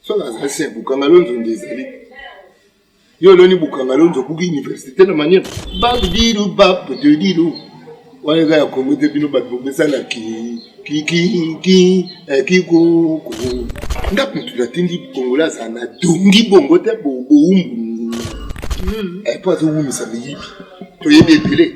soki azali se bukanga lonzo nde ezali yo oloni bukanga lonzo obuki université na manière babidilu bapetedilu wana eza ya kongo te bino bato bobesana kikiki eh, kikuku nga kutu natindi kongola azala na dongi bongo te bowumbu epo hmm. eh, azowumisa miyibi toyebi ebele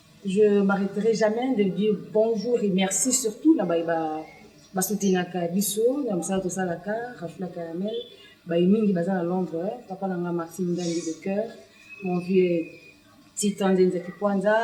Je m'arreterai jamais de dire bonjour et merci surtout na baye ba ba soutenaka biso na mosala tosalaka Rafula Caramel baye mingi baza na Londres papa na nga Martin Ngangi de cœur mon vieux Titan Nzenza Kipwanza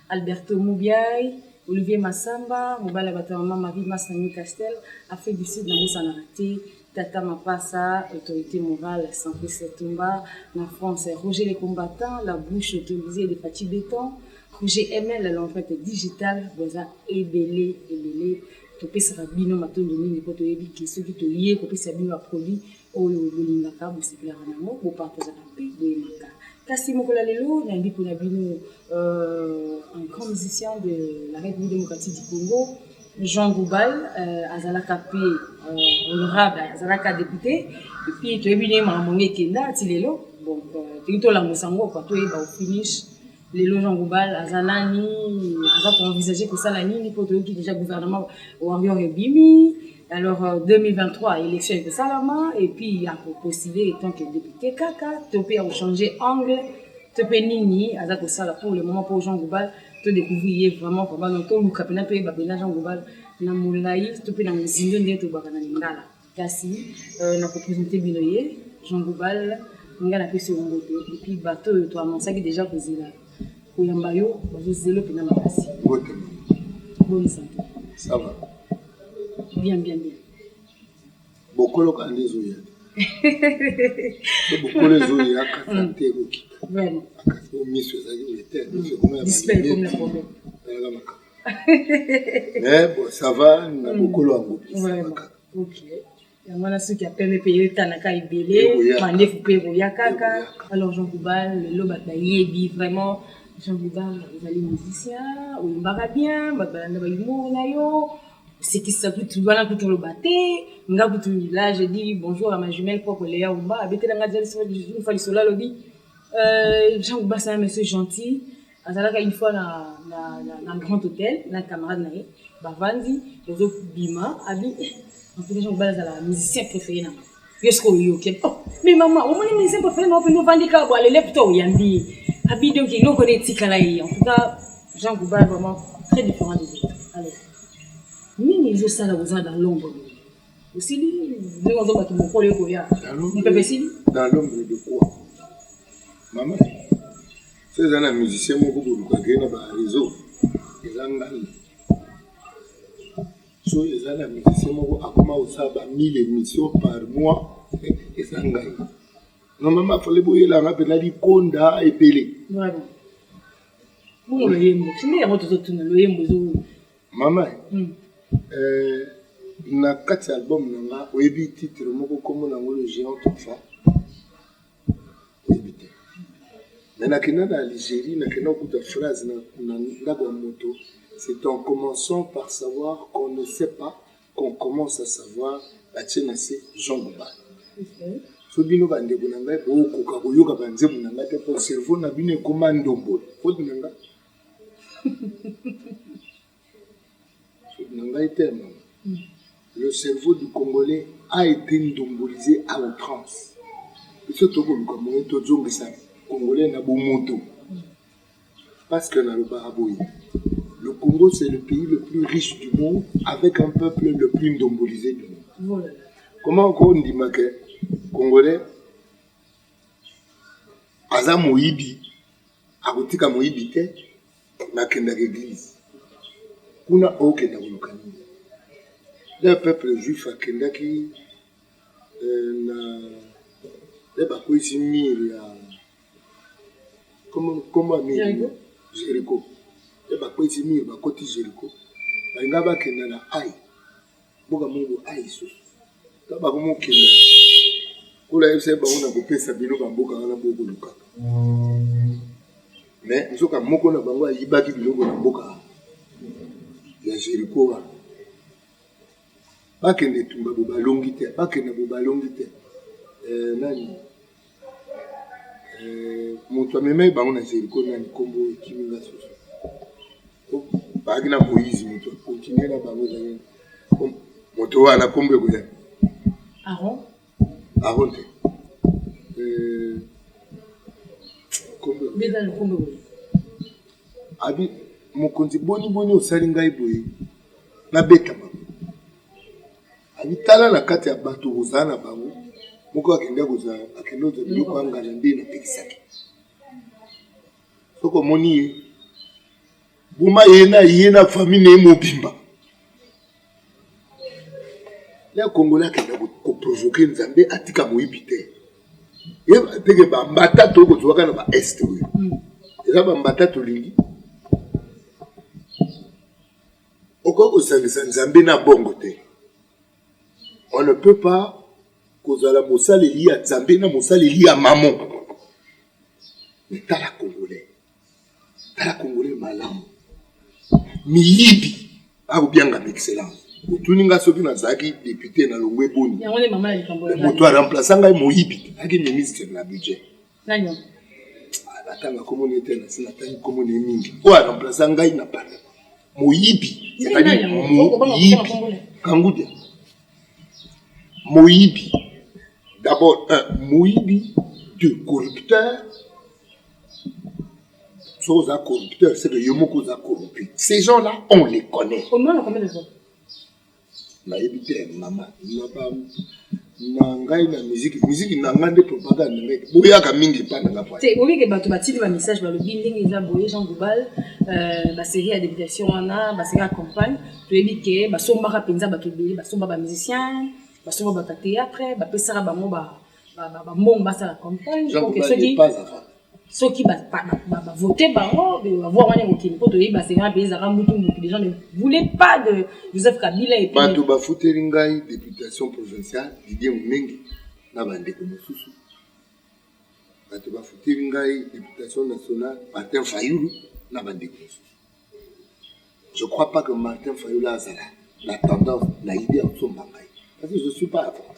Alberto Mubiay Olivier Massamba mobali ya bato ya mama Marie Masangi Castel Afrique du Sud na bosanaka te Tata Mapasa, autorite morale sans plus etumba na France, Roger le combattant, la bouche autorisée de Fatshi Beton, Roger ML, l'empreinte digitale, boza ebele ebele topesaka bino matondo mingi mpo toyebi ke soki toye kopesa bino baproduit oyo bolingaka bosepelaka na yango bopartazaka mpe boyemaka kasi mokolo ya lelo nayebi mpona bino euh, un grand musicien de la république démocratique du congo Jean Goubal euh, azalaka mpe euh, honorable azalaka depute epuis toyebi ndenge makambo yango ekenda ti lelo donc euh, toki tolamusa yango kwa toyeba ofinish lelo Jean Goubal aza nani aza koenvisage kosala nini mpo toyoki déjà gouvernement warrior ebimi alors 2023 élection ekosalama epuis ya kopostule etant que depute kaka to mpe ya kochange angle to mpe nini aza kosala pour le moment mpo Jean Goubal to découvrir ye vraiment vraiment donc toluka mpena toyeba mpena jean global na molai to mpe na mozindo ndenge tolobaka na lingala kasi euh, na kopresente bino ye jean global ngai napesi yo mbote epuis bato oyo toamansaki déjà kozela koyamba yo bazozela mpena makasi boni santo bien bien bien bokolo kala nde ezoya bokolo ezoya kasa te ekokita kasi o miso ezali oyo te miso ekomayalaka makambo me bo sava na bokolo yango pisamaka yango wana soki ya pembe mpe etanaka ebele mandefu mpe ekoya kaka alors jean goubal lelo bato bayebi vraiment jean goubal ozali musicien oyembaka bien bato balanda bahumour na yo sekisa kutu wana kutu oloba te nga kutu là je dis bonjour à ma jumelle propre Léa Umba abetela nga jalis une fois lisolo alobi euh, Jean Umba c'est un monsieur gentil azalaka une fois na, na, na, na grand hôtel na camarade na ye bavandi bozobima abi eh, en tout cas Jean Umba azala musicien préféré na nga yo siko oyoki oh, me mama omoni mise prefere na opende ovandi kaka bwa lele puta oyambi ye abi donc eloko na etikala ye en tout cas jean gouba vraiment très différent des autres alors nini ezosala koza na lombo boye osili ndenge ozo bato mokolo ekoya mopepe esili na lombo de quoi mama so eza na musicien moko bolukake na bareseau eza ngai Soki eza na musicien moko akoma kosala ba 1000 emission par mois eza ngai non mama fale boyela nga mpena likonda ebele mama hmm. eh, na kati ya album na nga oyebi titre moko nkombo na yango le géant tofa Nayebi te. Mais nakenda na Algerie, nakenda kokuta phrase na, na ndako ya moto, c'est en commençant par savoir qu'on ne sait pas qu'on commence à savoir, batie na se Jean Goubal. Okay. So bino bandeko na ngai bokoka koyoka banzembo na ngai te mpo cerveau na bino ekoma ndombolo. Faute na ngai. na ngai te mama hmm. le cerveau du congolais a été ndumbulisé à outrance biso tokoluka moye tozongisa congolais na bomoto hmm. parce que nalobaka boye le congo c'est le pays le plus riche du monde avec un peuple le plus ndumbulisé du monde voilà. comment okondima ke congolais aza moyibi akotika moyibi te nakendaka eglise kuna okenda koluka nini le peuple juif akendaki euh, na le bakwesi mire ya koma mire jericho le bakwesi mire bakoti jericho balinga bakenda na ai mboka mungu aiso ka bakomokenda kola yebisa bango na kopesa bino bamboka wana bokolukaka me nzoka moko na bango ayibaki biloko na mboka ya jeriko wana bakende etumba bo balongi te bakende bo balongi te eh, nani eh, moto amemaki bango na jeriko nani nkombo ekimi nga soso bagina moise moto continue na bango ezali moto wana kombo ekoya aron aron te euh, abi mokonzi boni boni osali ngai boye nabeta bango abi tala na kati ya bato kozala na bango moko akende kozala akende ozwa biloko angana nde napekisaki Soki omoni ye, boma ye na ye na famille na ye mobimba. Ya Kongola akenda koprovoke Nzambe atika moyibi te. Yeba teke bambata to kozwaka na ba est oyo. Hmm. Eza bambata tolingi. Okoki kosangisa Nzambe na bongo te. On ne peut pas kozala mosaleli ya Nzambe na mosaleli ya mamo. Tala Congolais, tala Congolais malamu, miyibi akobianga excellence otuni ngai soki nazalaki depute na longwe boni moto aremplace ngai moyibi aki ministre na budget Nani oyo? Natanga kombo na ye te, nasi natangi kombo na ye mingi. Oyo aramplasa ngai na pale. Moyibi. Ezali moyibi. Kangudia. Moyibi. D'abord, un, moyibi, deux, corrupteur. Soki oza corrupteur, c'est que yo moko oza corrompu. Ces gens-là, on les connaît. Omona combien de fois? Nayebi te mama naba na ngai na miziki miziki na ngai nde propagande na ngai boyaka mingi epa na nga te oyeke bato batindi ba message balobi ndenge eza boye jean goubal euh, baserie ya deputation wana baserie ya campagne toyebi ke basombaka mpenza bato ebele basomba ba musicien basomba bato ya théâtre bapesaka bango ba bambongo basala campagne oke soki soki bavote bango bavoi wana ekokende mpo toyebi basengana mpe ezalaka mutu mutu les gens ne voulaient pas de joseph kabila et bato bafuteli ngai députation provinciale didie monenge na bandeko mosusu bato bafuteli ngai députation nationale martin fayulu na bandeko mosusu je crois pas que martin fayulu azala na tendance na idée ya kosomba ngai parce que je suis pas avocat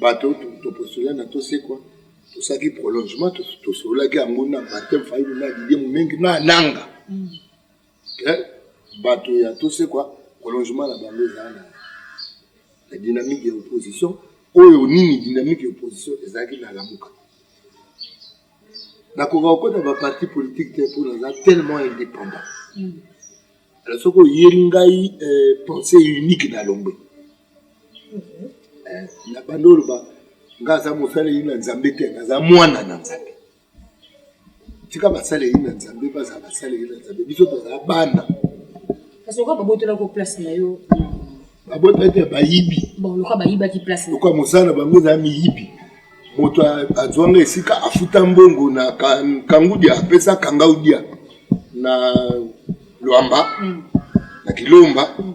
bato toposola na tosekwa tosalaki prolongement tosololaki yango na batem fayulu na didie momengi na nanga mm. ke bato ya tosekwa prolongement na bango ezala na la dynamique ya opposition oyo nini dynamique ya opposition ezalaki na lamuka nakoka kokota baparti politique te mpo naza tellement indépendant mm. alors soki oyeli ngai euh, pensée unique na lombe na banda oloba nga aza mosaleli na nzambe te naza mwana na nzambe tika basaleli na nzambe bazala basaleli na nzambe biso tozala bana kasi okoka babotolako place na yo babotaki ya bayibi loka bayibaki place loka mosala na bango ezala miyibi moto azwanga esika afuta mbongo na kangudia apesa kangaudia na lwamba mm. na kilomba mm.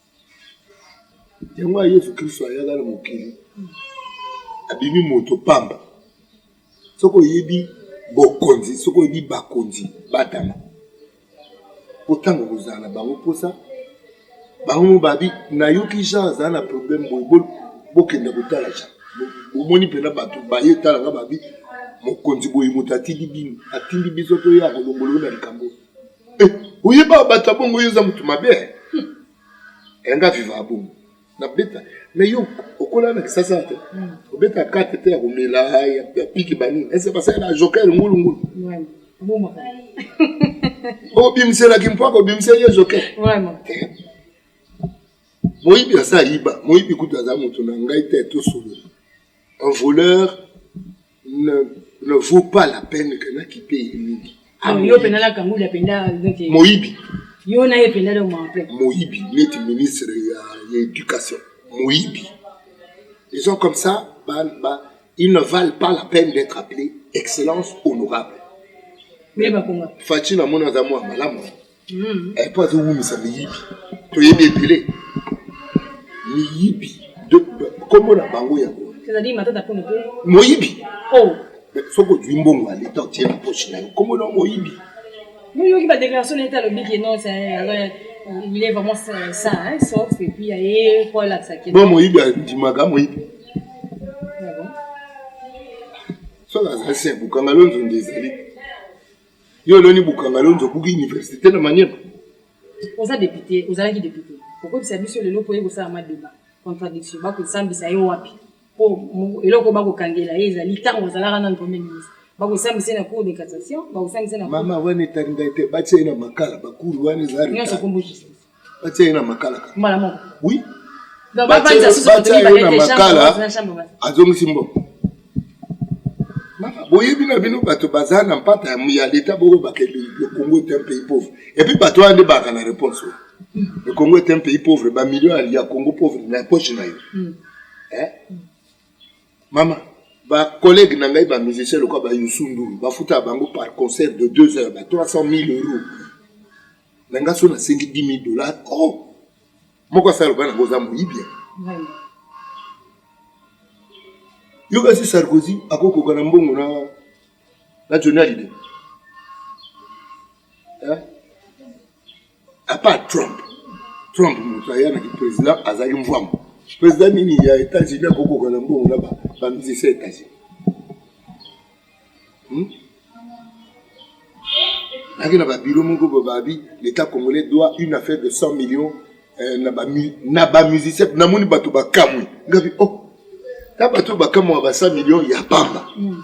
yango ya yesu kristo ayaka na mokili abimi moto pamba soki oyebi bokonzi soki oyebi bakonzi batana mpo ntango kozala na bango mposa bango mo babi nayoki jean azala na problème boye bokende kotala jean bomoni mpena bato baye talaka babi mokonzi boye moto atindi bino atindi biso toya kolongoloo na likambo Eh, oyeba bato ya bongo yo oza motu mabe eh? hmm. enga eh, viva ya bongo nabeta me yo okola na kisasa te hmm. obeta karte te ya komela ya piki banini ese basalela joker ngulungulu obimiselaki mpo akobimisa ye joker eh. moyibi aza ayiba moyibi kutu aza moto na ngai te tosolola un voleur ne, ne vaut pas la peine que na kipe ye mingi Ah, yo mpenza na kanguli apenda neti moyibi yo na ye mpenza donc mawa plein moyibi neti ministre ya, ya éducation moyibi les gens comme ça ba, ba, ils ne valent pas la peine d'être appelés excellence honorable mais bakonga faci namoni aza mwa malamu hmm. eh, mpo azowumisa miyibi toyebi ebele miyibi nkombo na bango yango moyibi oh. soki ozwi mbongo ya leta otie na poche na yo nkombo na moyibi oyoki badéclaration na ye te alobi ke non il est vraiment ça hein, sauf et puis aye mpo alakisa ke bon moyibi andimaka moyibi soki azali se bukanga lonzo nde ezali Yo oloni bukanga lonzo obuki université na maniema. Oza depute, ozalaki depute. Okobisa biso lelo po ye kosala ma débat. Contradiction, ba kosambisa ye wapi? Po eloko ba kokangela ye ezali tango azalaka nanu premier ministre. Ba kosambisa ye na cour de cassation, ba kosambisa ye na Mama wana etali ngai te, batia ye na makala, ba cour wana eza retard. Nionso kombo justice. batia ye na makala mbala moko oui batia ye na makala azongisi mbongo boyebi na bino bato baza na mpata ya leta boko bakende le congo est un pays pauvre epuis bato wana nde baka na réponse oyo hmm. le congo est un pays pauvre bamillion ya congo pauvre na poche na yo hmm. eh? hmm. mama bacollègue na ngai bamusicien lokola bayusunduru bafuta bango par concert de 2 heures ba 300 000 euros na nga so nasengi 10 000 dollars o oh! moko asala loba nango oza moyibia yo kasi sarkozy akokoka na mbongo na na joni alide eh? apart trump trump moto aya na kiprésident azali mvwambo président nini ya états-unis akokoka na mbongo na bamizisa états-unis Hmm? Naki na ba bilo moko ba babi l'État congolais doit une affaire de 100 millions euh, na ba na ba musiciens na moni bato ba kamwe ngabi oh na bato ba kamwa ba 100 millions ya pamba hmm.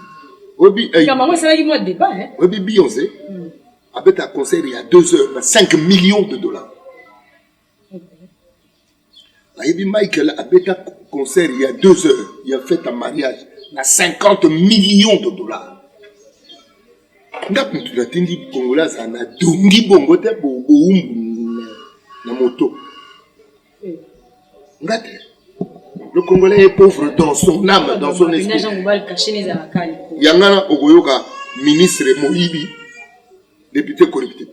obi eh, kama ngo salaki moi débat hein obi Beyoncé hmm. abeta concert ya 2 heures na 5 millions de dollars ayebi michael abeta concert ya deux heures ya fete ya mariage na 50 million de dollars nga mutu natindi kongola azala na dongi bongo te bowumbu na moto nga te le congolais est pauvre dans son âme dans son esprit yangana okoyoka ministre moyibi député corruptible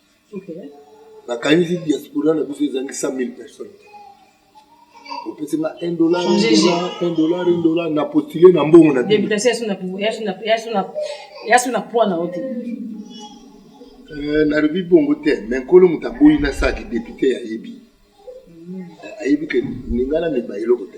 nakanisi diaspora na biso ezangi 100 000 personnes opesi nga 1 dollar 1 dollar 1 dollar na postule na mbongo na eh, nalobi bongo te me nkolo moto aboyi nasalaki depute ayebi mm. eh, ayebi ke ninga na miba eloko te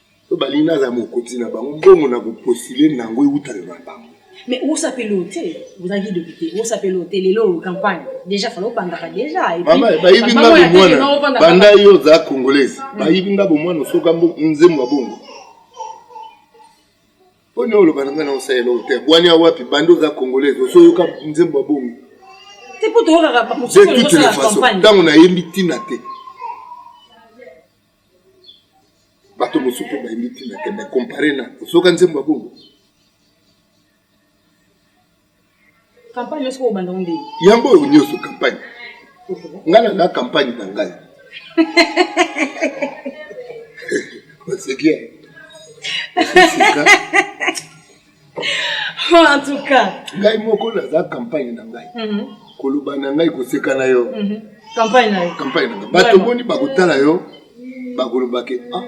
To balingi nazala mokonzi na bango, mbongo na kopostile na yango ewutaka na bango. Mais osapeli oyo te ozalaki depute osapeli oyo te lelo oyo campagne déjà fala obandaka déjà bayibi nga bomwana banda yo oza congolaise mm. bayibi nga bomwana osoka nzembo ya bongo mpo nde oloba na ngai na osalela oyo te bwani ya wapi banda oza congolaise osoyoka nzembo ya bongo de toute façon ntango nayembi ntina te bato mosusu mpe bayembi ntina te me compare na ozoka nzembo ya bongo campagne nyonso oyo obanda nde yango oyo nyonso campagne ngai na na campagne na ngai oseki osika Oh, en tout cas. Ngai moko naza campagne na ngai. Mm -hmm. Koloba na ngai koseka na yo. Mm -hmm. Campagne na yo. Campagne na ngai. Bato boni bakotala yo bakoloba ke ah.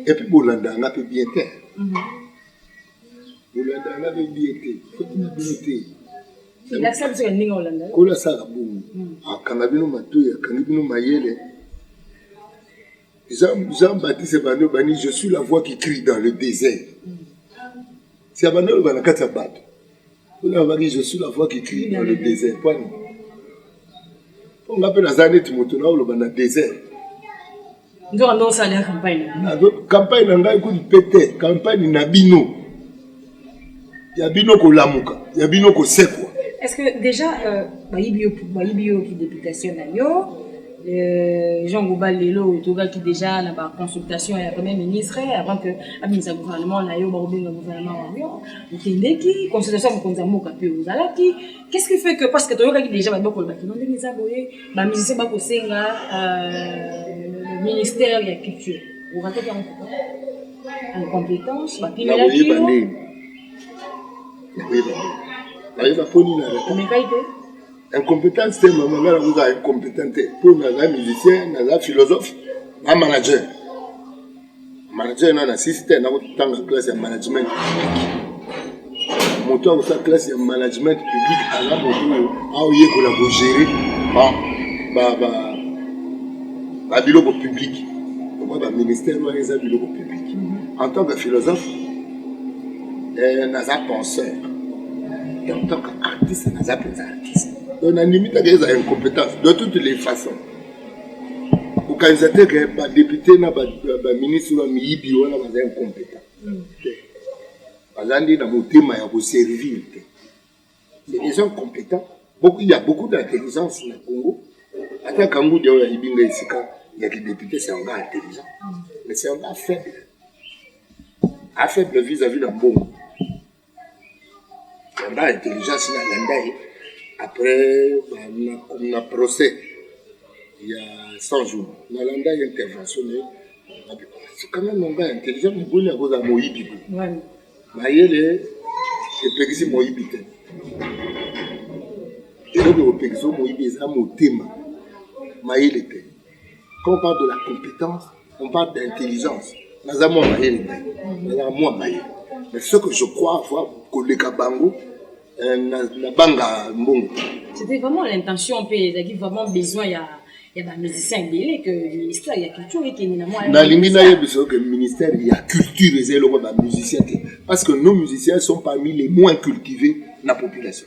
Et puis bolanda nga pe bien te. Mm -hmm. Bolanda nga pe bien te. Soki na bino te. Elakisa biso ya ndenge olanda. Kola sala bongo. Mm. Akanga bino matoyi, akangi bino mayele. Jean, Jean Baptiste Bando bani je suis la voix qui crie dans le désert. C'est Bando le bana kati bato. Kuna bani je suis la voix qui crie dans le désert. Kwani. Ponga pe naza neti moto na oloba na désert. Ndio ndio sala campagne. Campagne na ngai kutu pete, campagne na bino. ya bino kolamuka ya bino kosekwa est-ce que déjà euh, bayibi yo bayibi yo ki députation na yo euh, Jean Goba lelo tokaki déjà na ba consultation ya premier ministre avant que abimisa gouvernement na yo bakobenga gouvernement na yo okendeki consultation ya mokonzi ya mboka mpe ozalaki qu'est-ce qui fait que parce que toyokaki déjà babi bakoloba kino ndenge eza boye bamusicien bakosenga euh, ministère ya culture okataki yango incompétence bapimelaki yo ayeba mpo nini omekaki te incompétence te mama ngai nakozala incompétent te mpo naza musicien naza philosophe na manager manager na na sisi te nakotanga classe ya management moto oyo akosala classe ya management public aza moto oyo aoyekola kogere babiloko publike omoi baministère wana eza biloko publike mhm. en tant que philosophe eh, naza penseur et en tant que artiste naza mpenza artiste donc nandimi taka eza incompétence de toutes les façons kokanisa te ke badepute na baministre wana miyibi wana baza incompétent mhm. baza nde na motema ya koservir te c'est des gens compétents beaucoup, il y a beaucoup d'intelligence na congo ata kangudi oyo ayibi nga esika ya kidepute c'est un gars intelligent mais c'est un gars faible afaible vis-à-vis na mbongo un gars intelligence na landa ye après na, na procès ya 100 jours na landa intervention ne quand même on va intelligent mais boni akozala moyibi ko mayele epekisi moyibi te eloko ekopekisa moyibi eza motema mayele te quand on parle de la compétence On parle d'intelligence. Naza mwa mayele ngai. Nazaka mwa mayele. Mais ce que je crois avoir koleka bango euh, na, na banga mbongo. C'était vraiment l'intention mpe ezalaki vraiment besoin ya ya ba musiciens ebele que ministère ya culture ekende na mwa Nalingi nayebisa yo que ministère ya culture eza eloko ba musiciens te parce que nos musiciens sont parmi les moins cultivés na population.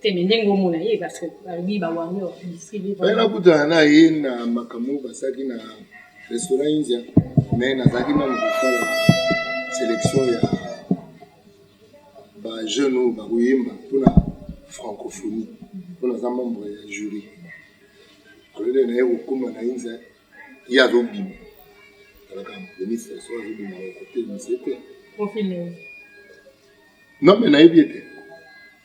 te me ndenge omona ye parce que balobi ba warrior industrie libre mais nakutana na ye na makambo basalaki na restaurant india mais nazalaki nanu kotala sélection ya ba jeune oyo bakoyemba mpona francophonie mpo naza membre ya jury alole na ye kokoma na india ye azobima talaka ministre so azobima kote mise te non me nayebi ete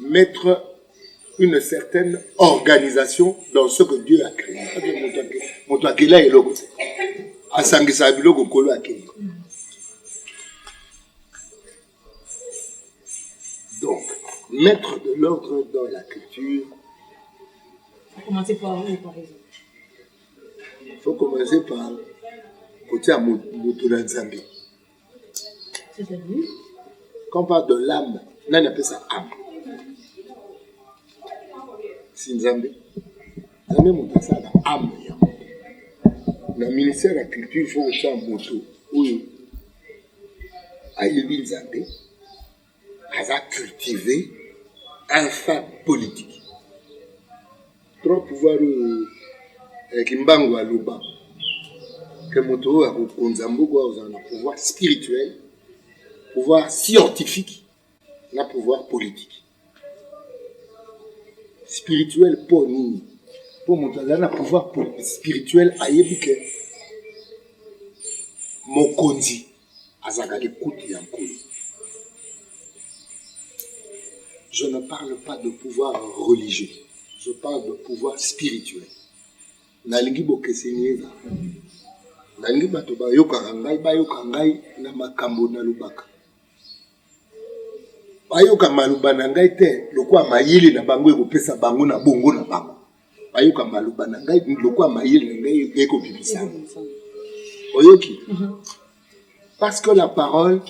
mettre une certaine organisation dans ce que Dieu a créé. Moto akela eloko te. Asangisa biloko kolo akela. Donc, mettre de l'ordre dans la culture. Faut commencer par où, par exemple Faut commencer par kotia moto na Nzambe. Quand on parle de l'âme, nani apesa âme? Si Nzambe. Nzambe moto asala âme ya moto. Na ministère ya culture, il faut kotya moto oyo ayebi Nzambe aza cultive un fin politique trop pouvoir oyo eh, kimbangu aloba ke moto oyo akokonza mboka oyo azala na pouvoir spirituel pouvoir scientifique na pouvoir politique spirituel mpo nini mpo moto azali na pouvoir spirituel ayebi ke mokonzi azalaka likuti ya nkolo je ne parle pas de pouvoir religieux je parle de pouvoir spirituel nalingi bokeseni ezala nalingi bato bayokaka ngai bayoka ngai na makambo nalobaka bayoka maloba na ngai te lokola mayele na bango ekopesa bango na bongo na bango bayoka maloba na ngai lokola mayele na ngai ekobimisa oyoki mhm. parce que la parole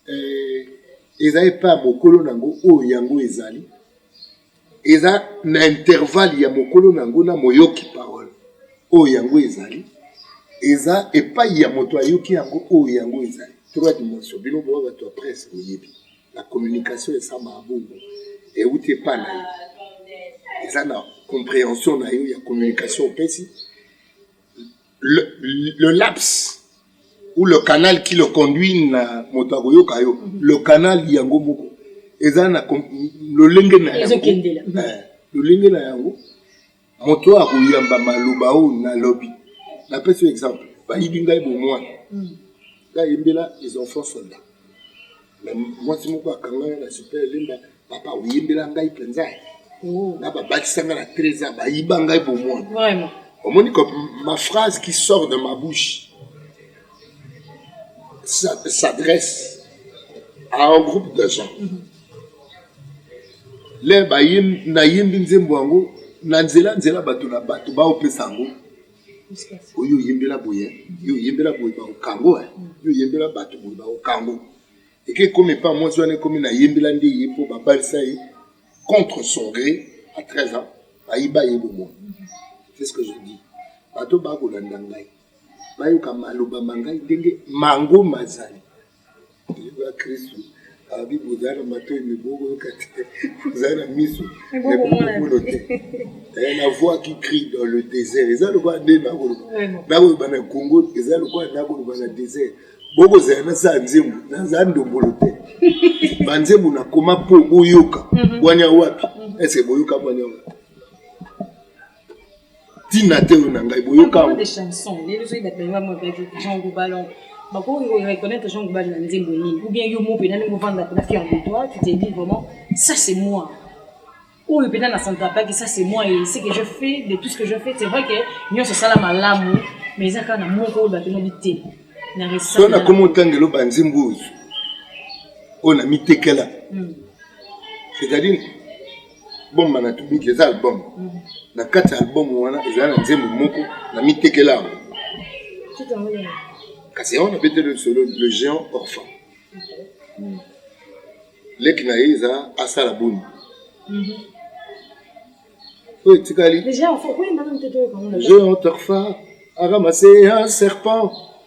euh, eza epa ya mokolo na yango oyo yango ezali eza na intervalle ya mokolo na yango na moyoki parole oyo yango ezali eza epai ya moto ayoki yango oyo yango ezali trois dimension bino boa bato ya presse boyebi La communication ya Sama Abongo euti epai na yo, eza na comprehension na yo ya communication opesi. Le, le laps ou le canal qui le conduit na moto akoyoka yo, mhm. le canal yango moko eza na lolenge na yango, eh, lolenge na yango Moto oyo akoyamba maloba oyo nalobi, napesi yo exemple, bayibi ngai bomwana hmm. ngai yembela les enfants soldats na mwasi moko akanga na super elemba papa oyembela ngai mpenza oh. na babakisa ngai na trésor bayiba ngai bomwana omoni ko ma phrase qui sort de ma bouche s'adresse à un groupe de gens mm -hmm. Lè nayembi nzembo yango na nzela nzela bato na bato baopesa yango oyo oyembela boye yo oyembela boye baokango eh. yo oyembela bato boye baokango eke ekomi epa mwasi wana ekomi nayembela nde ye mpo babalisa ye contre son gré à 13 ans bayiba ye bomoi c'est ce que je dis bato bakolanda ngai bayoka maloba ma ngai ndenge mango mazali abi bozala na matoi me bokoyoka te bozala na miso me bokomono te eh, na voix qui crie dans le désert eza lokola nde nakoloba nakoloba na congo eza lokola nakoloba na désert bokozala na saa nzembo naza ndombolo te banzembo nakoma mpo boyoka mhm. bwania wapi mhm. ese boyoka bwania wapi tina te oyo na ngai boyoka bakoki koreconnaitre jean gobali na nzembo nini ou bien yo mo mpena ndenge ovanda mpena fier de toi tu te dis vraiment ça c'est moi oyo mpena na santrapaki ça c'est moi et ce que je fais de tout ce que je fais c'est vrai que nyonso esala malamu mais eza kaka na moko oyo bato nabi te na reso nakomi otangelo banzembo oyo oyo na mitekela hmm. c'est-à-dire album banatumiki eza album na kati ya album wana ezali na nzembo moko na mitekela yango kasi yango na beteli lisolo le géant orphan hmm. leki na ye eza asala boni mhm. oyo etikali géant orpha aramase un serpent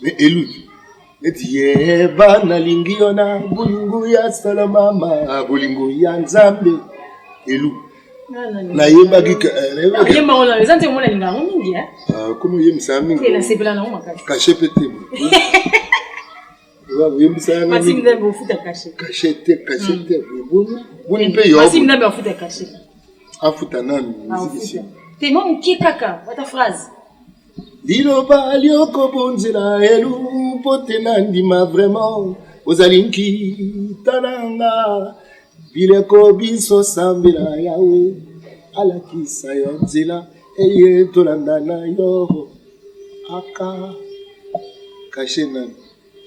mais eluki neti yeba nalingi yo na bolingo ya sala mama bolingo ya nzambe elu nayebaki komi oyembisa ya mingi kashe mpe te oyembisa yanga kashe te kashe te boni mpe yo afuta nanu mizikisi te mwa moke kaka wata phrase liloba liokobonzela elu mpo te na ndima vraiment ozali nkita na nga bileko biso sambela yawe alakisa yo nzela eye tolanda na yo aka kashe nani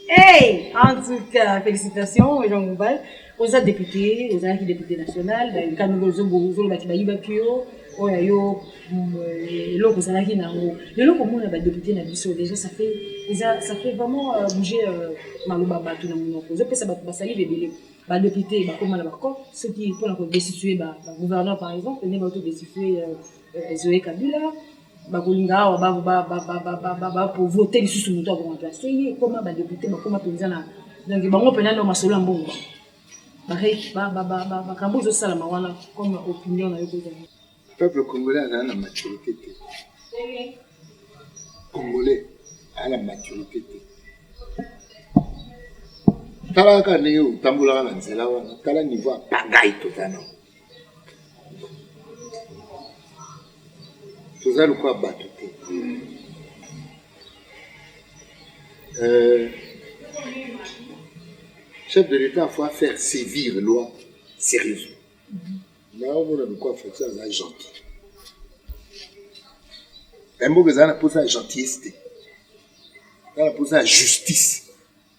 Hey, en tout cas, félicitations, Jean Mouval. oza député ozalaki député national bakanoli ozolobaki bayibaki yo oyo ya yo mm, euh, eloko ozalaki na yango lelo komona badéputé na biso déjà ça fait eza ça fait vraiment euh, bouger euh, maloba bato na monoko ozopesa bato basali bebele badéputé bakoma na bacop soki mpona kodestitue bagouverneur par exemple nde bato destitue zoe kabila bakolinga awa bavote lisusu moto ya koremplace ye ekoma badepute bakoma mpenza na donc bango mpenza nde masolo ya mbongo makambo ezosalama wana comme opinion na yo kozala peuple congolais azala na maturité te congolais aa na maturité te tala kaka ndenge otambolaka na nzela wana tala niveau ya pangai toza nango toza lokola bato te euh, chef de l'état faut faire sévir loi sérieuse na omona lokola faci aza gentil mboka ezala na mposa ya gentillesse te eza na mposa ya justice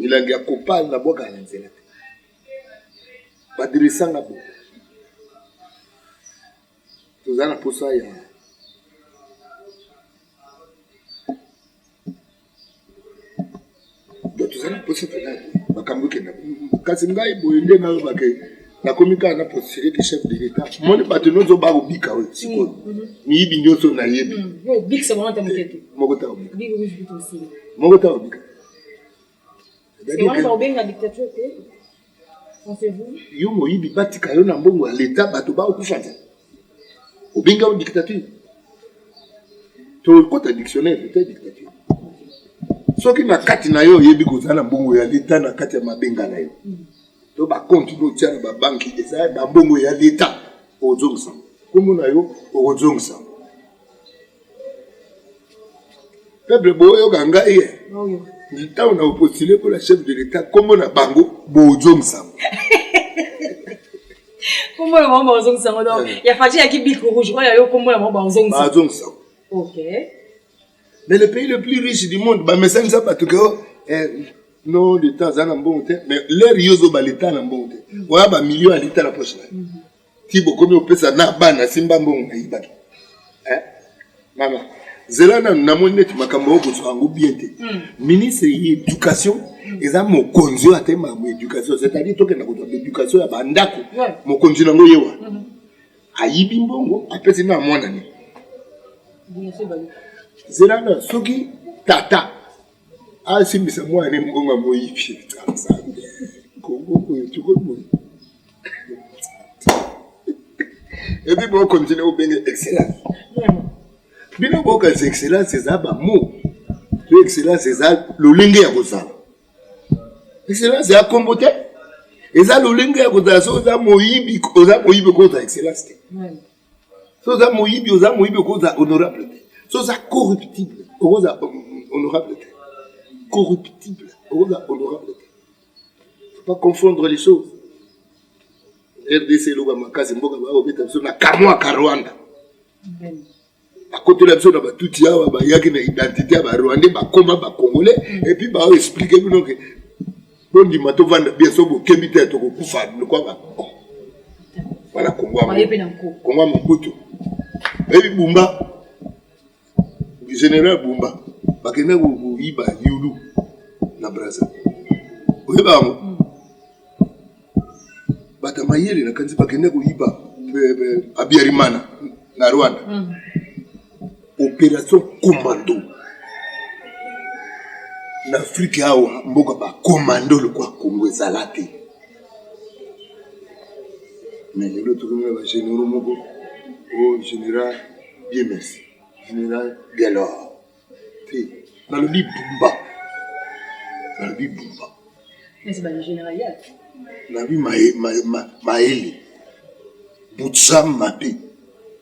milangi ya kopal na bwaka na nzela te badirisanga bo toza na mposa ya do toza na mposa mpenza makambo ekenda kasi ngai boye nde nalobaka nakomi kaka na postire ki chef de l'etat moni bato nyonso bakobika oyo sikoyo mm, mm-hmm. miyibi nyonso nayebi mm, moko takobika moko takobika yo moyibi batika yo na mbongo ya leta bato baokufa te obengi yango dictature tokota dictionnaire te dictature soki na kati na yo oyebi kozala na mbongo ya leta na kati ya mabenga na yo to bakonte botia na babanki eza bambongo ya leta ozongisa nkombo na yo okozongisa peuple boyoka ngai ye ntango na opostile mpo na chef de l'état nkombo na bango bozongisango nkombo na bango bazongisango donc eh. ya fati yaki bik rouge oyo ayo nkombo na bango bazongisango ok mais le pays le plus riche du monde bamesanisa bato ke oh, eh, no leta aza na mbongo te mais lere yo ozoba leta na mbongo te mm. oya bamillion ya leta na poche na ye mm. ti bokomi opesa na bana simba mbongo nayibaki eh? mama zela nanu namoni neti makambo oyo kozwa yango bien te hmm. ministre ya éducation hmm. eza mokonzi oyo atema mo éducation c'est-à-dire tokenda kozwa baéducation ya bandako mokonzi nango ye wa hmm. ayibi mbongo apesi na mwana ne zela na soki tata asimbisa mwana ne mbongo ya moyibi nzambe kongo oyo tokoki boye epi bokontinue kobenge excellence bino bokanisa excellence eza bamo to excellence eza lolenge ya kozala excellence ya kombo te eza lolenge ya kozala soki oza moyibi oza moyibi okozala excellence te so oza moyibi oza moyibi okoza honorable te so oza corruptible okoza honorable te corruptible okoza honorable te faut pas confondre les choses rdc eloba makasi mboka baobeta biso na kamwaka rwanda bakotela biso na batuti awa bayaki na identité ya barwandais bakoma bacongolais epuis baoexplike bino ke bondima tovanda bien so bokebi te tokokufa lokola bakoko wana kongoa mokutu ebi bumba général bumba bakenda koyiba yulu na braza oyeba yango mm. bato ya mayele nakanisi bakenda koyiba eh, eh, abiarimana na rwanda mm. operation commando na afrike awa mboka bacommando lokwa congo ezala te me lelo tokomi na bagénéraux moko o oh, général biemes général galor te nalobi bumba nalobi bumba nalobi mayele butsam mabe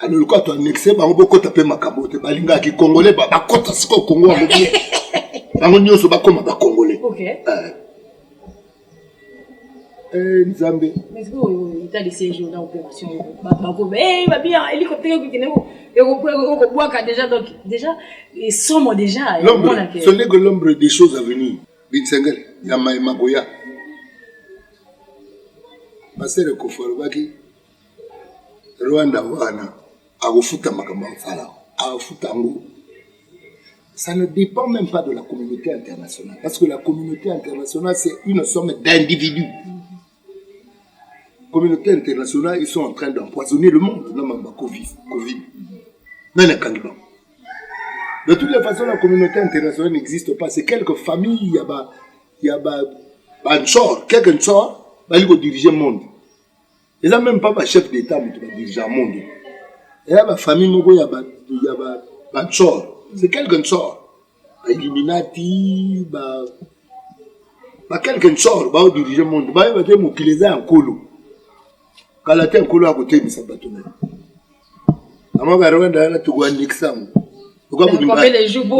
alors lokola to annexe bango bokota mpe makambo te balingaka kikongole bakota sikoyo kongo yango bie bango nyonso bakoma bakongole eh. Eh, nzambe ekobwaka deja donc deja esomo deja solego l'ombre des choses à venir binsengele ya maye makoya pasere kofa alobaki Rwanda wana akofuta makambo ya kosala akofuta yango ça ne dépend même pas de la communauté internationale parce que la communauté internationale c'est une somme d'individus communauté internationale ils sont en train d'empoisonner le monde na mamba covid covid nani akangi bango de toutes les façons la communauté internationale n'existe pas c'est quelques familles ya ba ya ba banchor quelques nchor bali kodirige monde eza meme pas ba chef d'état moto ba dirigeant monde eya ba famille moko ya ba ya ba ba tsor c'est quelque tsor ba illuminati ba ba quelque tsor ba dirige monde ba ba te mokili eza ya nkolo kala te nkolo akotemisa bato na yango ba rwanda yana tokoandikisa yango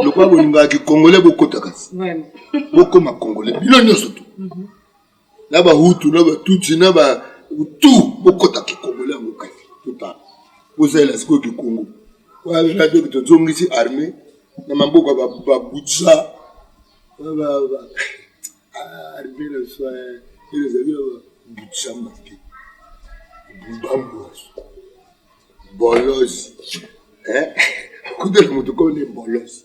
lokola bolingaka kikongole bokota kasi bokoma kongole bino nyonso tu mhm. na ba hutu na ba tutsi na ba tu bokota kikongole yango kati totala bozalela sikoyo kikongo wana doki tozongisi arme na maboko babutsa arme na biso ezali babutsa mabe bambwaso bolozi kutela moto kone bolozi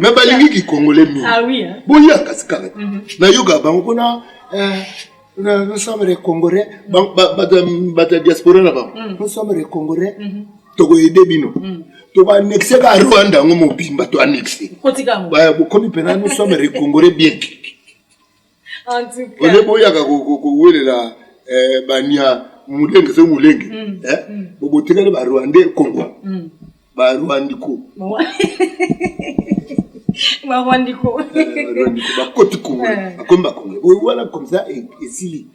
me balingi kikongole mingi ah hein. boya kasi kaka mhm. nayoka bango kuna eh, nous sommes les congolais bato ya diaspora na bango mhm. nous sommes les congolais mhm. tokoyede bino tokoanexe ka rwanda yango mobimba toanexe bokomi mpena nous sommes les congolais bien ole boyaka kowelela eh, bania mulenge soki mulenge mm, eh, mm. bobotikali barwandais kongwa mm. barwandiko barwandiko eh, bakoti kongo eh. bakomi bakongo oyo wana komsa e, esili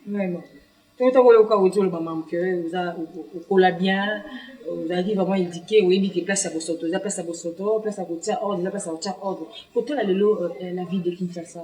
totaka oyo oka oti oloba mamu ke oza okola bien ozalaki vraiment édike oyebi ke place ya bosoto eza place ya bosoto place ya kotia ordre eza place ya kotia ordre kotala lelo euh, la ville de kinshasa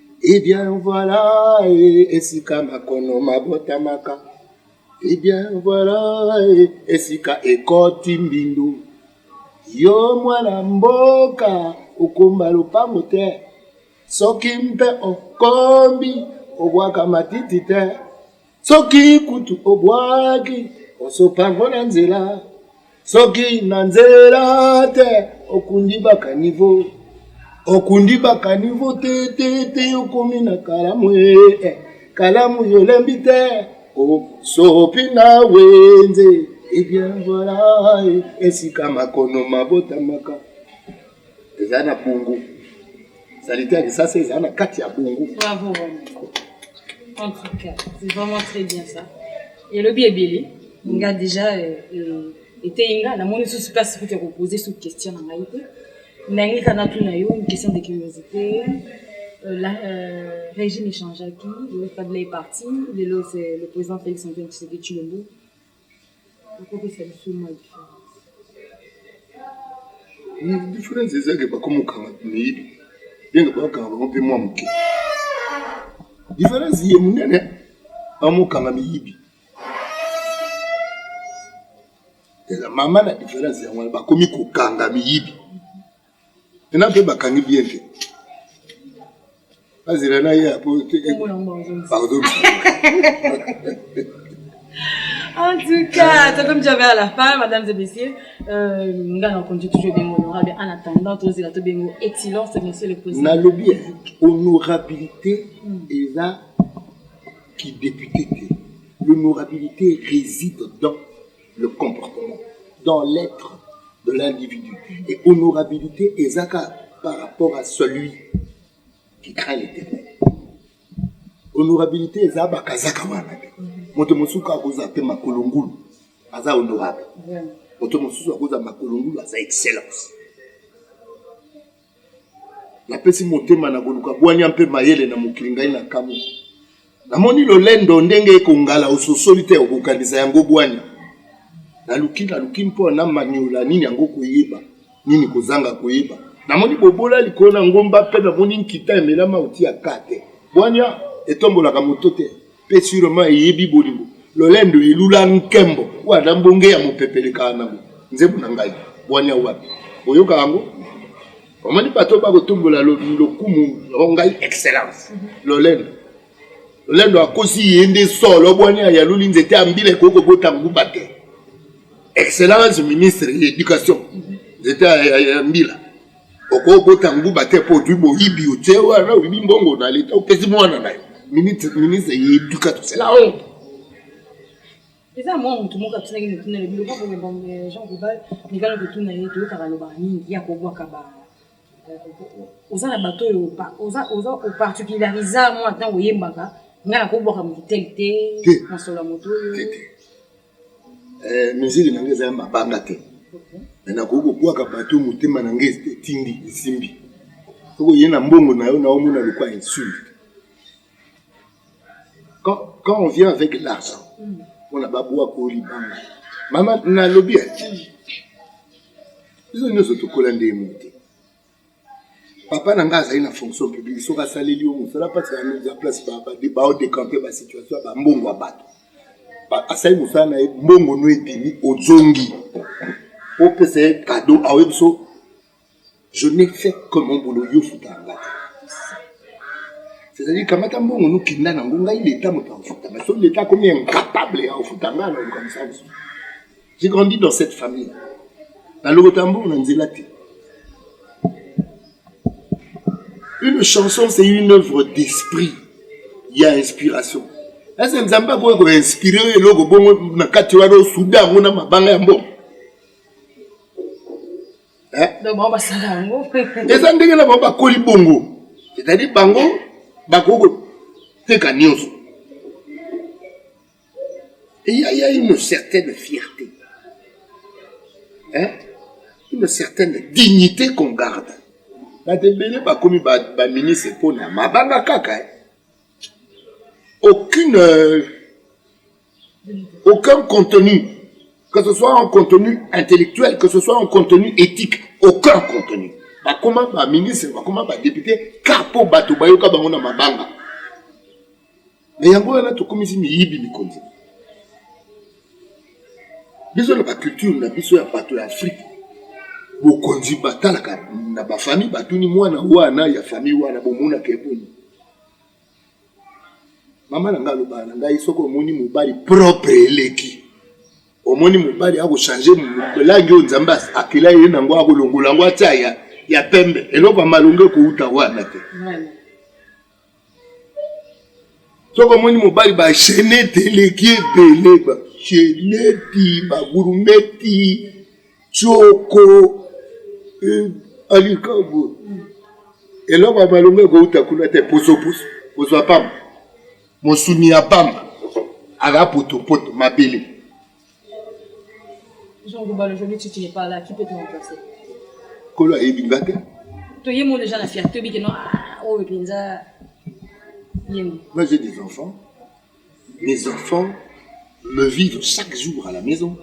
Eh bien voilà, eh, esika makono mabotamaka. Eh bien voilà, eh, esika ekoti mbindu. Yo mwana mboka okomba lopango te, soki mpe okombi obwaka matiti te. soki kutu obwaki osopa ngo na nzela soki na nzela te okundi bakanivo okundi bakanivo te te te okomi na kalamu ee kalamu yolembi te osopi na wenze ebien eh voila eh, esika makono mabotamaka eza na bongo salite ya lisasa eza na kati ya bongo bravo en tout cas c'est vraiment très bien ça elobi ebele nga déjà euh, euh, eteyi nga namoni susu place kutu ya kopose su question na ngai te nangi kana tuna yo une question de curiosité Euh, la, euh, régime échangeaki le Fadla est parti lelo c'est le président Félix Antoine Tshisekedi Tshilombo akopesa biso mwa diference diference ezake bakomokanga miyibi ndenge bakanga bango mpe mwa moke diference ye monene bamokanga miyibi eza mama na diference yango wana bakomi kokanga miyibi ena mpe bakangi bien te bazela na ye po bazobisa En tout cas, c'est comme j'avais à la fin, mesdames et messieurs, euh, nga na konji toujours bengo honorable en attendant tous la to bengo excellence monsieur le président. Na lobi honorabilité hmm. eza qui député l'honorabilité réside dans le comportement dans l'être de l'individu et honorabilité ezaka par rapport à celui qui craint l'éternel honorabilité eza bakazaka wana te moto mosusu kaka kozala mpe makolo ngulu aza honorable moto mosusu akozala makolo ngulu aza excellence Napesi motema na koluka bwanya mpe mayele na mokili ngai na kamwe. Namoni lolendo ndenge ekongala ososoli te okokanisa yango bwanya. Naluki naluki mpo na maniola nini yango koyeba nini kozanga koyeba. Namoni bobola likolo na ngomba mpe namoni nkita emelama otia ka te. Bwanya etombolaka moto te. Mpe surement eyebi bolingo lolendo elula nkembo wana mbonge ya mopepe elekaka nango nzembo na ngai bwania wapi boyoka yango omoni bato bakotombola lokumu o ngai excellence mhm. lolendo lolendo akosi ye nde solo bwania yaluli nzete ya mbila ekoki kobota nguba te excellence ministre ya éducation mhm. nzete ya mbila okobota nguba te mpo ozwi boyibi otie wana oyibi mbongo na leta opesi mwana na yo ministre ya education c'est la honte eza mwa motu moko atunaki motuna na biloko boye jean gobal mikala kotuna ye toyokaka lobaka mingi ya kobwaka ba oza na bato oyo oza oparticulariza mwa ntango oyembaka ngai nakobwaka motu tele te masolo ya moto oyo eh, miziki na ngai eza ya mabanga te me nakoki kobwaka bato motema na ngai etindi esimbi soko ye na mbongo na yo na omona lokwa insulte quand, quand on vient avec l'argent mpona babwaka oyo libanga mama nalobi ati biso nyonso tokola ndenge moko te papa na ngai azali na fonction publique soki asaleli yo mosala mpasi ya mise en place baodecampe basituation ya bambongo ya bato asali mosala na ye mbongo no ebimi ozongi opesa ye kado aoyebi so je n'ai fait que mon boulot yo futa ya ngai c'est-à-dire kamata mbongo nokenda nango ngai leta moto akofuta baso leta akomi incapable ya kofuta ngai na likambo sa mosusu J'ai grandi dans cette famille. La Logotambour n'a Une chanson, c'est une œuvre d'esprit. Il y a inspiration. Est-ce que Nzamba a inspiré le logo bon na kati wa do soudan on a mabanga ya mbongo? Hein? Donc on va sala ngo. Eza ndenge na ba koli bongo. C'est-à-dire bango bakoko teka nyoso. Il y, a, il y a une certaine fierté, hein? une certaine dignité qu'on garde. bato ebele bakomi baministre mpo na mabanga kaka eh? aucune euh, aucun contenu que ce soit un contenu intellectuel que ce soit un contenu éthique aucun contenu bakoma baministre bakoma badepute kar mpo bato bayoka bango na mabanga Mais yango wana tokomisi miyibi mikonzi. Biso na ba culture na biso ya bato ya Afrique bokonzi batalaka na ba famille batuni mwana wana ya famille wana bomonaka eboni mama na ngai alobaka na ngai soki omoni mobali propre eleki omoni mobali akochange langi oyo nzambe akela ye nango akolongola yango atya ya, ya pembe eloko ya malonga ekouta wana te soki omoni mobali bashenete eleki ebele basheneti bagurumeti tsoko eh, alikabu eloko ya malonga ekouta kuna te posoposo kozwa pamba mosuni ya pamba aka potopoto mabele kolo ayebi nga te toyemo deja na fierté oyebi keno ah, oyo mpenza yemo moi j'ai des enfants mes enfants me vivent chaque jour à la maison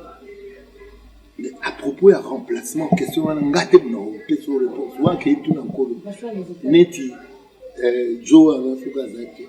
mais à propos ya remplacement question wana nga te mona opesi o réponse wana kei tuna nkolo neti euh, jo wana soki aza te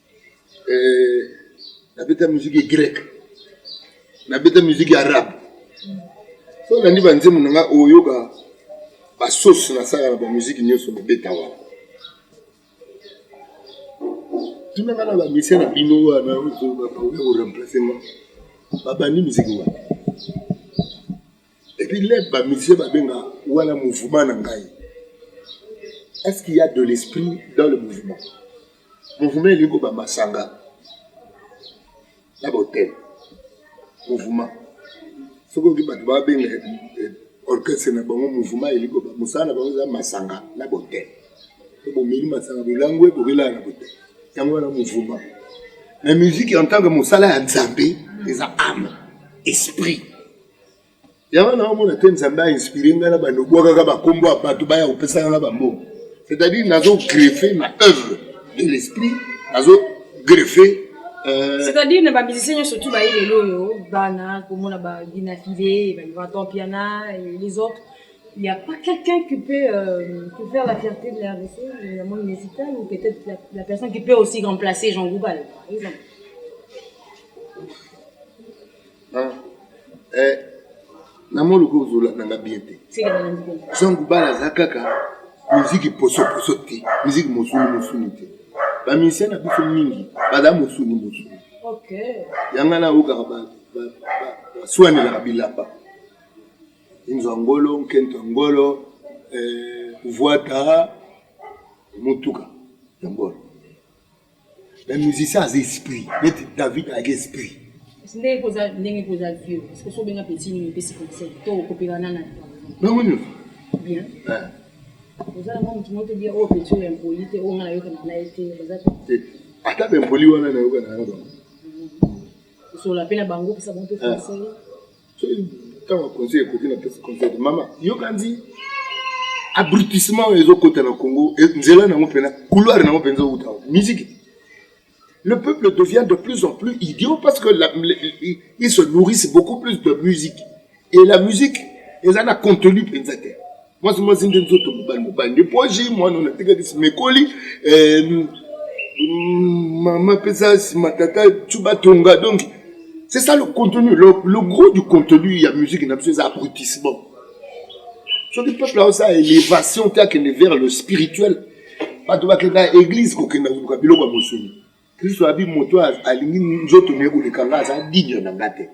eh, nabeta miziki ya grek nabeta miziki ya arabe so olandi banzembo na ngai oyoka basose nasaka na bamiziki nyonso nabeta wana tunaka na bamisie na bino wana oremplace nga babandi miziki wana epuis lebe ba musicien babenga wana mouvement na ngai est ce qu'il y a de l'esprit dans le mouvement mouvement elingi koba masanga na botel mouvement soki oki bato babenga eh, orchestre na bango mouvement elingi koba mosala na bango eza masanga na botel to bomeli masanga bolangue bokelaa na botel yango wana mouvement na musique en tant que mosala ya nzambe eza ame esprit yango naomona te nzambe ainspire ngai na bando obwakaka bakombo ya bato baya kopesaka nga bambongo c'est-à-dire nazo greffe na œuvre de l'esprit nazo greffe euh, c'est-à-dire na bamusicien nyonso tu baye lelo oyo bana komona baginafile batompiana les autres il n'y a pas quelqu'un qui peut, euh, qui peut faire la fierté de la RDC, la monde musicale, ou peut-être la, la, personne qui peut aussi remplacer Jean Goubal, par exemple. eh, na moni lokola ozolanda nga bien te zangu bala aza kaka miziki posoposo te miziki mosuni mosuni te bamisien na biso mingi baza mosuni mosuni yanga nayokaka baswanelaka bilamba inzo ya ngolo nkento ya ngolo eh, vuata motuka ya ngolo Mais musicien aza esprit neti David ayaki esprit ndenge koza ndenge koza vieux parce que so benga petit nini pesi conseil to kopela nana bango nyonso bien eh. oza na mwa motu moko tobiya oyo oh, petit oyo impoli te oyo oh, nga nayokana na ye te baza eh, ata baimpoli wana nayokana na bango mm. osola mpe na bango pesa bango mpe eh. conseil ntango ya conseil ekoki na pesa conseil mama yokanzi abrutissement oyo ezokota na congo e, nzela nango mpena couloir nango mpenza outa musique le peuple devient de plus en plus idiot parce que la, le, ils se nourrissent beaucoup plus de musique et la musique eza na contenu mpenza te mwasi mwasi nde nzoto mobali mobali nde poji mwana oyo natikaki simekoli eh, mama pesa sima tata tu batonga donc c'est ça le contenu le, le gros du contenu ya musique na biso eza abrutissement soki peuple aosa élévation te akende vers le spirituel bato bakenda église kokenda koluka biloko ya mosuni Kristo abi moto alingi nzoto na ye koleka nga aza digne na nga te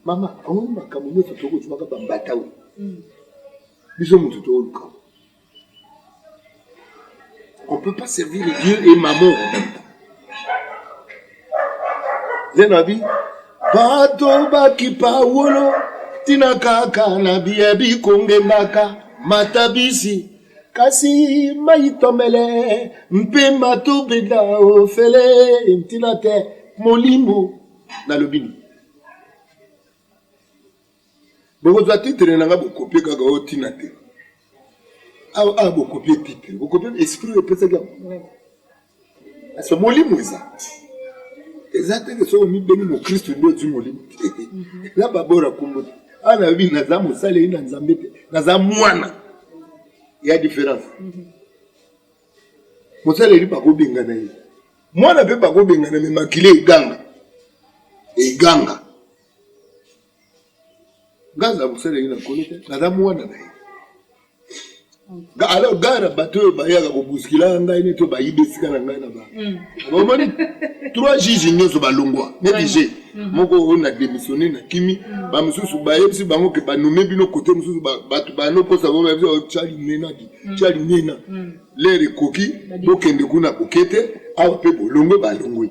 mama omoni makambo nyonso tokozwaka bambata oyo hmm. biso moto tooluka on peut pas servir dieu et maman en même temps nde na bi bato bakipa wolo ntina kaka na biye bikongendaka matabisi kasi mayitomele mpe matobeda ofele ntina te molimo nalobi nini bokozwa titre na nga bokopie kaka oyo ntina te awa ah, ah, bokopie titre bokopie esprit oyo epesaki yango parce molimo eza eza te ke soki omibeni mokristu nde ozwi molimo te mhm. na babora kombo te awa nayebi naza mosaleli na nzambe te naza mwana ya différence mhm. mosaleli bakobengana ye mwana mpe bakobengana me makila eganga eganga nga aza mosala ye na nkolo te naza mwana na ye alors gare na bato oyo bayaka kobuskila ngai neti bayibi esika na ngai na ba mm. omoni trois juge nyonso balongwa neti je mm. moko oyo na démissionne na kimi mm. bamosusu bayebisi bango ke banome bino kote mosusu bato banokosa bango bayebisi oh, cali nenadi cali nena lere ekoki bokende kuna kokete awa mpe bolongwe balongwe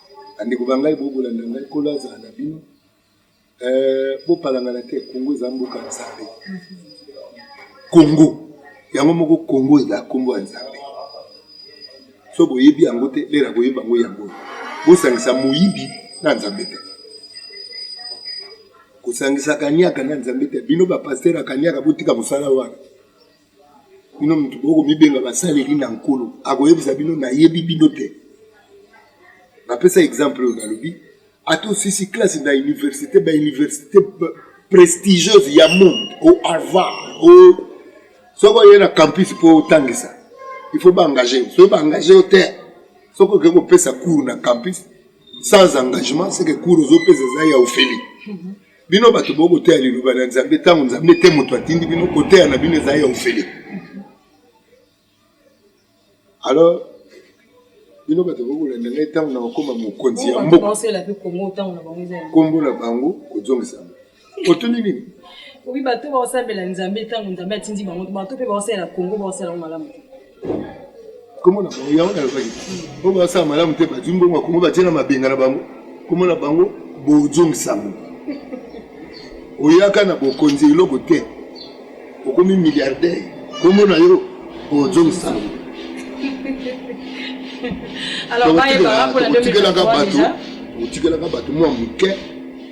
Bandeko ba ngai, bokolanda ngai, Nkolo azala na bino. Eh, bopalangana te, Kongo eza mboka ya Nzambe. Kongo yango moko, Kongo eza nkombo ya Nzambe. So boyebi yango te, lera boyebi yango yango. Bosangisa moyibi na Nzambe te. Kosangisa kaniaka na Nzambe te. Bino bapastere ya kaniaka, botika mosala wana. bino moto boye komibenga basaleli na nkolo akoyebisa bino nayebi bino te napesa exemple oyo nalobi ata osisi classe na université bauniversité prestigieuse ya monde o harvard o soki oye na campus mpo otangisa il faut baengage soki baengage yo te soki oke kopesa cours na campus sans engagement seke cours ozopesa eza ya ofeli Bino bato bo koteya liloba na Nzambe ntango Nzambe te moto atindi bino, koteya na bino ezali ya ofele. Alors bino bato bokolanda ngai ntango na kokoma mokonzi ya mboka, nkombo na bango kozongisama. Otuni nini? Obi bato baosambela Nzambe ntango Nzambe atindi bango, bato mpe baosalela Kongo baosala yango malamu te. kombo na bango yango nalobaki po basala malamu te bazwi mbongo ya kongo batie na mabenga na bango kombo na bango bozongisango oyaka na bokonzi eloko te okomi milliardaire kombo na yo bozongisango otikelaka bato otikelaka bato mwa moke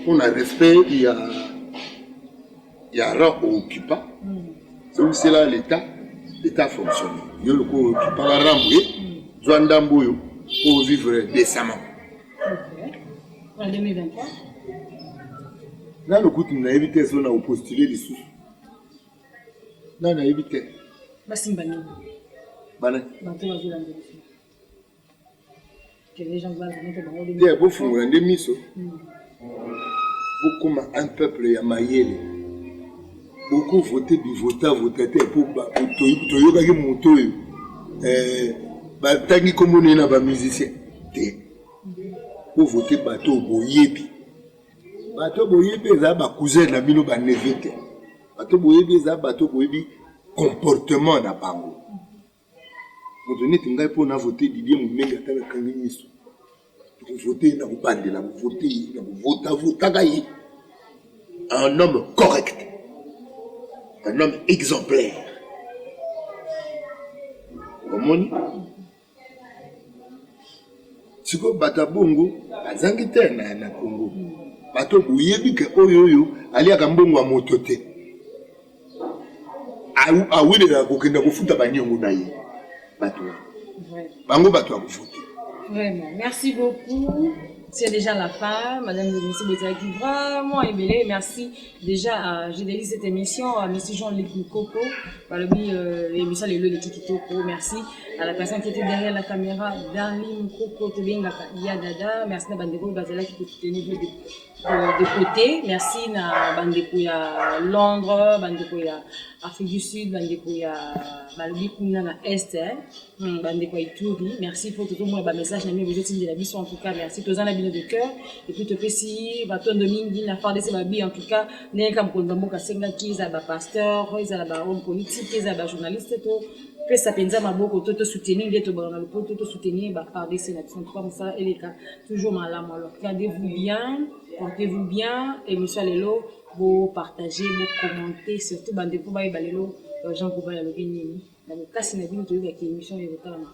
mpo na respect ya ya ra okipa zongisela leta leta fonctionne yo lokola okipaka rambo ye zwa ndambo oyo mpo ovivre décemment nano kutu nayebi te so na opostule lisusu nano nayebi te basimba nini bana te bofungola nde miso bokoma un peuple ya mayele bokovote bivotavota te mpo toyokaki moto oyo eh, batangi nkombo naye na bamusicien te bovote bato oyo boyebi bato oyo boyebi eza bacousin na bino baneve te bato boyebi eza bato boyebi comportement na bango Moto neti ngai mpo na vote Didier Mumeli ata nakangi miso nakovote ye, nakobandela kovote ye, nakovotavotaka ye. Un homme correct, un homme exemplaire. Omoni sikoyo bato ya bongo bazangi te na, na Congo. Bato boyebi ke oyo oyo aliaka mbongo ya moto te. awelelaka kokenda kofuta baniongo na ye bato wana bango bato ya kofuta Vraiment, merci beaucoup. C'est déjà la fin. Madame le ministre Bezaki, vraiment ébélé. Merci déjà à Gédélie cette émission, à M. Jean-Luc Coco, par le biais euh, émission Les Leux de Kikitoko. Merci à la personne qui était derrière la caméra, Darlene Coco, Tobengaka, Yadada. Merci à Bandego Bazala qui était tenue de côté merci na bandeko ya londres bandeko ya afrique du sud bandeko ya balobi kuna na est eh. hmm, bandeko ya ituri merci mpo tokomona bamessage na bino bozotindela biso en tout cas merci toza na bino de cœur epuis topesi batondo mingi na fardc babi en tout cas ndenge ka mokonzi ya mboka asengaki ezala bapasteur ezala bahomme politique ezala bajournaliste to pesa mpenza maboko to tosoutenir nde tobala na lopoto tosoutenir bafardc na biso en tout cas mosala eleka Toujours malamu alors gardez-vous bien, portez-vous bien, emission lelo bo partager, bo commenter surtout bande ko bayeba lelo euh, Jean Goubal alobi nini. Na bokasi na bino toyebaki émission ya kotalama.